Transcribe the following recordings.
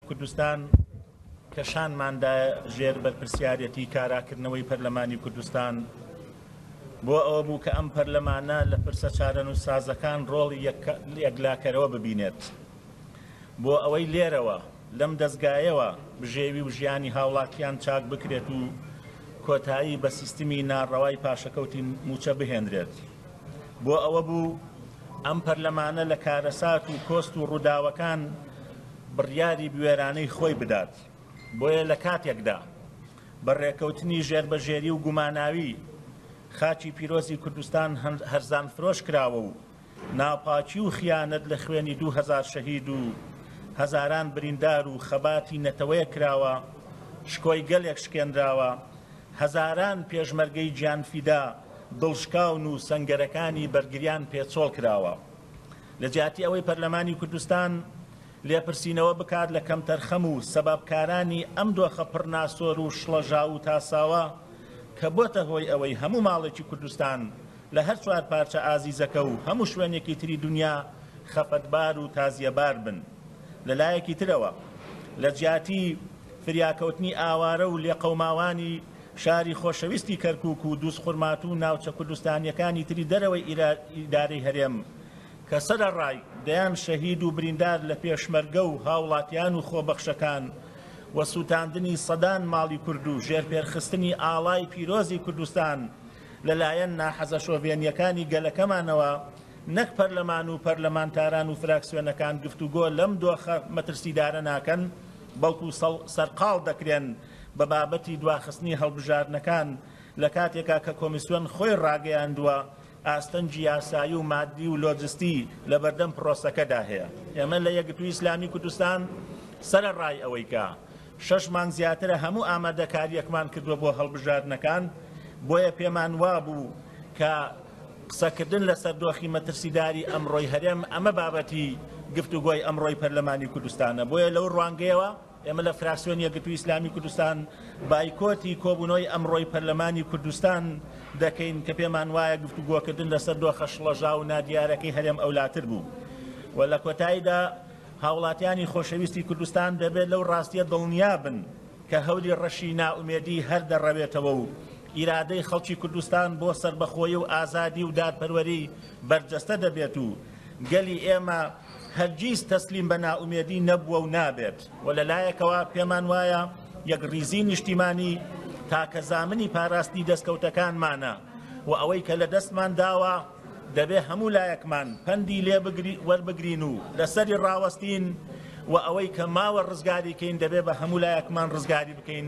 کوردستان کە شانماندایە ژێر بەرپرسیارێتی کاراکردنەوەی پەرلەمانی کوردستان بۆ ئەوە بوو کە ئەم پەرلەمانە لە پرسە چارەنووسسازەکان ڕۆڵی یەکلاکەرەوە ببینێت بۆ ئەوەی لێرەوە لەم دەستگایەوە بژێوی و ژیانی هاوڵاتیان چاک بکرێت و کۆتایی بە سیستمی ناڕەوای پاشەکەوتی موچە بهێنرێت. بۆ ئەوە بوو ئەم پەرلەمانە لە کارەسات و کۆست و ڕووداوەکان بڕیاری بوێرانەی خۆی بدات، بۆیە لە کاتێکدا بە ڕێکەوتنی ژێربەژێری و گوماناوی خاکی پیرۆزی کوردستان هەرزانفرۆش کراوە و ناپاکی و خیانەت لە خوێنی دوو هەزار شەهید و هەزاران بریندار و خەباتی نەتەوەیەک کراوە، شکۆی گەلێک شکێنراوە، هەزاران پێشمەرگەی گیانفیدا، دڵشکاون و سەنگەرەکانی بەرگریان پێ چۆڵ کراوە لە جیاتی ئەوەی پەرلەمانی کوردستان لێپرسینەوە بکات لە کەمتەرخەم و سەبابکارانی ئەم دۆخە پڕ ناسۆر و شڵەژاو و تاساوە کە بۆتە هۆی ئەوەی هەموو ماڵێکی کوردستان لە هەر چوار پارچە ئازیزەکە و هەموو شوێنێکی تری دونیا خەفەتبار و تازیەبار بن لە لایەکی ترەوە لە جیاتی فریاکەوتنی ئاوارە و لێقەوماوانی شاری خۆشەویستی کەرکوک و دوزخورماتوو و ناوچە کوردستانییەکانی تری دەرەوەی ئیدارەی هەرێم کە سەرەڕای دەیان شەهید و بریندار لە پێشمەرگە و هاوڵاتیان و خۆبەخشەکان و سوتاندنی سەدان ماڵی کورد و ژێرپێرخستنی ئاڵای پیرۆزی کوردستان لەلایەن ناحەزە شۆڤێنییەکانی گەلەکەمانەوە نەک پەرلەمان و پەرلەمانتاران و فراکسیۆنەکان گفتوگۆ لەم دۆخە مەترسیدارە ناکەن بەڵکو سەرقاڵ دەکرێن بە بابەتی دواخستنی هەڵبژاردنەکان لە کاتێکا کە کۆمیسیۆن خۆی ڕاگەیاندووە ئاستەنگی یاسایی و ماددی و لۆجستی لە بەردەم پرۆسەکەدا هەیە. ئێمە لە یەکگرتووی ئیسلامی کوردستان سەرەڕای ئەوەی کە شەش مانگ زیاترە هەموو ئامادەکارییەکمان کردووە بۆ هەڵبژاردنەکان بۆیە پێمان وابوو کە قسەکردن لەسەر دۆخی مەترسیداری ئەمڕۆی هەرێم ئەمە بابەتی گفتوگۆی ئەمڕۆی پەرلەمانی کوردستانە بۆیە لەو ڕوانگەیەوە ئێمە لە فراکسیۆنی یەکگرتووی ئیسلامی کوردستان بایکۆتی کۆبوونەوەی ئەمڕۆی پەرلەمانی کوردستان دەکەین کە پێمان وایە گفتوگۆکردن لەسەر دۆخە شڵەژاو و نادیارەکەی هەرێم ئەولاتر بوو و لە کۆتاییدا هاوڵاتیانی خۆشەویستی کوردستان دەبێت لەو ڕاستیە دڵنیا بن کە هەوری ڕەشی نائومێدی هەر دەڕەوێتەوە و ئیرادەی خەڵکی کوردستان بۆ سەربەخۆیی و ئازادی و دادپەروەری بەرجەستە دەبێت و گەلی ئێمە هەرگیز تەسلیم بە نائومێدی نەبووە و نابێت و لە لایەکەوە پێمان وایە یەکڕیزیی نیشتیمانی تاکە زامنی پاراستنی دەستکەوتەکانمانە و ئەوەی کە لە دەستمان داوە دەبێ هەموو لایەکمان پەندی لێ وەربگرین و لە سەری ڕاوەستین و ئەوەی کە ماوە ڕزگاری کەین دەبێ بە هەموو لایەکمان ڕزگاری بکەین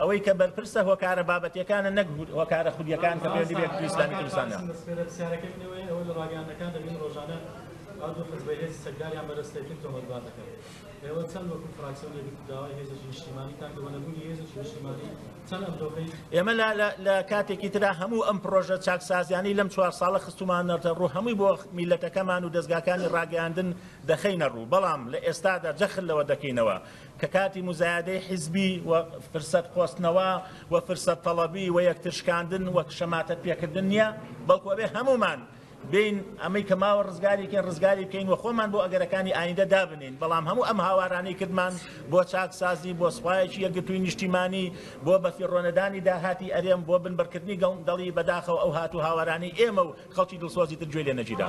ئەوەی کە بەرپرسە هۆکارە بابەتیەکانە نەک هۆکارە خودیەکان کە پەیوەندی بە یەکێتی ئیسلامی کوردستان هەیە. ئێمە لە کاتێکی ترا هەموو ئەم پرۆژە چاکسازیانەی لەم چوار ساڵە خستومانەتە ڕوو هەمووی بۆ میلەتەکەمان و دەزگاکانی ڕاگەیاندن دەخەینە ڕوو بەڵام لە ئێستادا جەخت لەوە دەکەینەوە کە کاتی موزایەدەی حیزبی و فرسەت قۆستنەوە و فرسەت تەڵەبی و یەکتر شکاندن و شەماتەت پێکردن نیە، بەڵکو ئەبێ هەموومان بێین ئەمەی کە ماوە ڕزگاری بکەین ڕزگاری بکەین و خۆمان بۆ ئەگەرەکانی ئایندە دابنێین، بەڵام هەموو ئەم هاوارانەی کردمان بۆ چاکسازی، بۆ سوپایەکی یەکگرتووی نیشتیمانی، بۆ بەفیڕۆنەدانی داهاتی ئەرێم، بۆ بنبڕکردنی گەندەڵی، بەداخەوە ئەو هات و هاوارانەی ئێمە و خەڵکی دڵسۆزی تر گوێی لێ نەگیرا.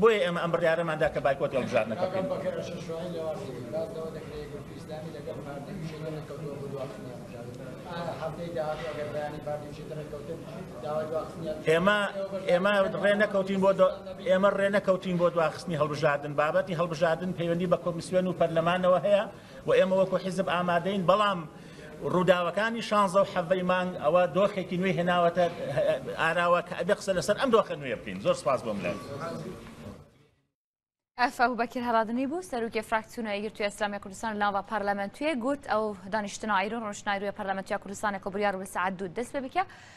بۆیە ئێمە ئەم بڕیارەمان دا کە بایکۆتی هەڵبژاردنەکە بکەین. ئێمە ئێمە ڕێ نەکەوتین بۆ ئێمە ڕێ نەکەوتین بۆ دواخستنی هەڵبژاردن بابەتی هەڵبژاردن پەیوەندی بە کۆمیسیۆن و پەرلەمانەوە هەیە و ئێمە وەکو حیزب ئامادەین بەڵام ڕووداوەکانی شانزە و حەڤەی مانگ ئەوە دۆخێکی نوێی هێناوەتە ئاراوە کە ئەبێ قسە لەسەر ئەم دۆخە نوێیە بکەین زۆر سپاس بۆ ملێ. ئەف ئەبو بەکر هەرادمی بوو سەرروکی فراکسیونە یەکگرتووی ئسلامی کوردستان لاوە پارلەمەنتویە گوت ئەو دانیشتنە ئایرون ڕۆشنایروە پارلەمەنتیا کوردستانە کۆبریار و سعد دوود دەست پێ بکە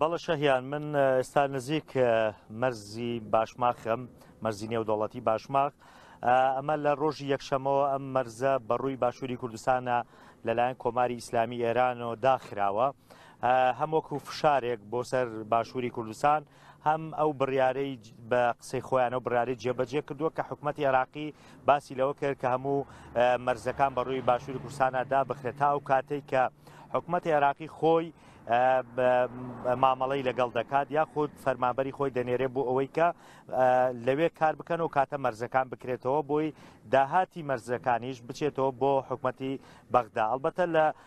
بەڵە شەهیان من ئێستا نزیک مەرزی باشماخم مەرزی نێودەوڵەتی باشماخ ئەمە لە ڕۆژی یەکشەمەوە ئەم مەرزە بەڕووی باشووری کوردستانە لەلایەن کۆماری ئیسلامی ئێرانەوە داخراوە هەموەکو فشارێک بۆ سەر باشووری کوردستان هەم ئەو بڕیارەی بە قسەی خۆیانەوە بڕاری جێبەجێ کردووە کە حکوومەت عێراقی باسی لەوە کرد کە هەموو مەرزەکان بە ڕووی باشووری کوردستانەدا بخرێت تا ئەو کاتێک کە حکوومەت عێراقی خۆی مامەڵەی لەگەڵ دەکات یاخود فەرمابەری خۆی دەنێرێ بۆ ئەوەی کە لەوێ کار بکەن و کاتە مەرزەکان بکرێتەوە بۆی داهاتی مەرزەکانیش بچێتەوە بۆ حکومەتی بەغدا ئەلبەتە لە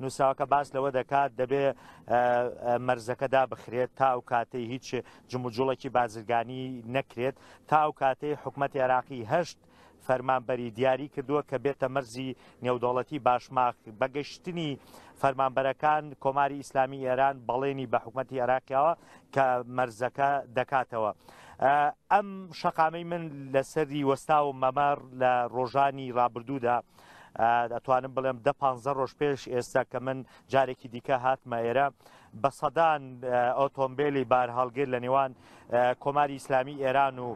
نووسراوەکە باس لەوە دەکات دەبێ مەرزەکە دابخرێت تا ئەو کاتەی هیچ جموجوڵێکی بازرگانی نەکرێت تا ئەو کاتەی حکوومەت عێراقی هەشت فەرمانبەری دیاری کردووە کە بێتە مەرزی نێودەوڵەتی باشماخ بەگەشتنی فەرمانبەرەکان کۆماری ئیسلامی ئێران بەڵێنی بە حکوومەتی عێراقیەوە کە مەرزەکە دەکاتەوە. ئەم شەقامەی من لەسەری وەستا و مەمار لە ڕۆژانی ڕابردوودا ئەتوانم بڵێم دە پانزە ڕۆژ پێش ئێستا کە من جارێکی دیکە هاتمە ئێرە بە سەدان ئۆتۆمبیلی بار هەڵگر لە نێوان کۆماری ئیسلامی ئێران و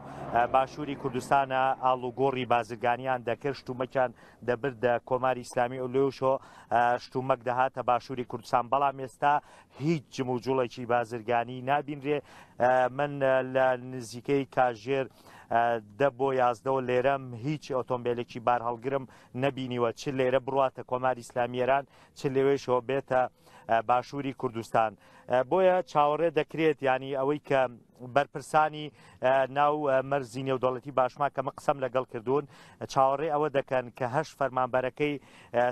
باشووری کوردستانە ئاڵوگۆڕی بازرگانیان دەکرد شتومەکیان دەبردە کۆماری ئیسلامی ئۆلوشۆ شتومەک دەهاتە باشووری کوردستان بەڵام ئێستا هیچ جموجوڵێکی بازرگانی نابینرێ من لە نزیکەی کاژێر دە بۆ یازدەوە لێرەم هیچ ئۆتۆمبیلێکی بار هەڵگرم نبینیوە چ لێرە بڕاتە کۆماری ئسلامیێران چ لەوێشەوە بێتە باشووری کوردستان بۆیە چاوەڕێ دەکرێت ینی ئەوەی کە بەرپرسانی ناو مەرزی نێودەڵەتی باشما کە من قسەم لەگەڵ کردوون چاوەڕێ ئەوە دەکەن کە هەشت فەرمانبەرەکەی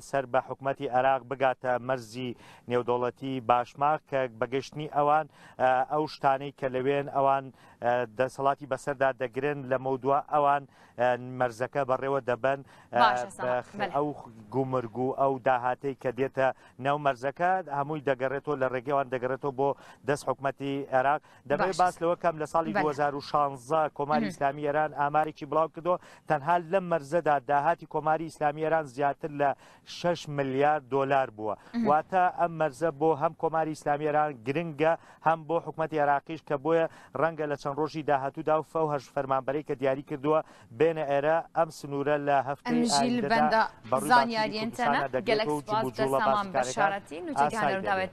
سەر بە حکوومەتتی عێراق بگاتە مەرزی نێودەوڵەتی باشما کە بەگەشتنی ئەوان ئەو شتانەی کە لەوێن ئەوان دەسەڵاتی بەسەردا دەگرن لە مەودوا ئەوان مەرزەکە بەڕێوە دەبن ئەو گومرگ و ئەو داهاتەی کە دێتە ناو مەرزەکە هەمووی دەگەڕێتەوە لە ڕێگەی ئەوان دەگەڕێتەوە بۆ دەست حکوومەتی عێراق دەبێت باش باس لەوە کەم لە ساڵی بەلێ. 2016 کۆماری مهم. ئیسلامی ئێران ئامارێکی بڵاو کردەوە تەنها لەم مەرزەدا داهاتی کۆماری ئیسلامی ئێران زیاتر لە شەش ملیار دۆلار بووە مهم. واتە ئەم مەرزە بۆ هەم کۆماری ئیسلامی ئێران گرنگە هەم بۆ حکوومەتی عێراقیش کە بۆیە ڕەنگە لە چەند ڕۆژی داهاتوودا و فەوهش فەرمانبەرەی کە دیاری کردووە بێنە ئێرە ئەم سنوورە لە هەفتەی ئایندەدا بەڕووی باشووری کوردستانە دەگرێت و جموجوڵە بازرگانەکان ئاسای دەبێت.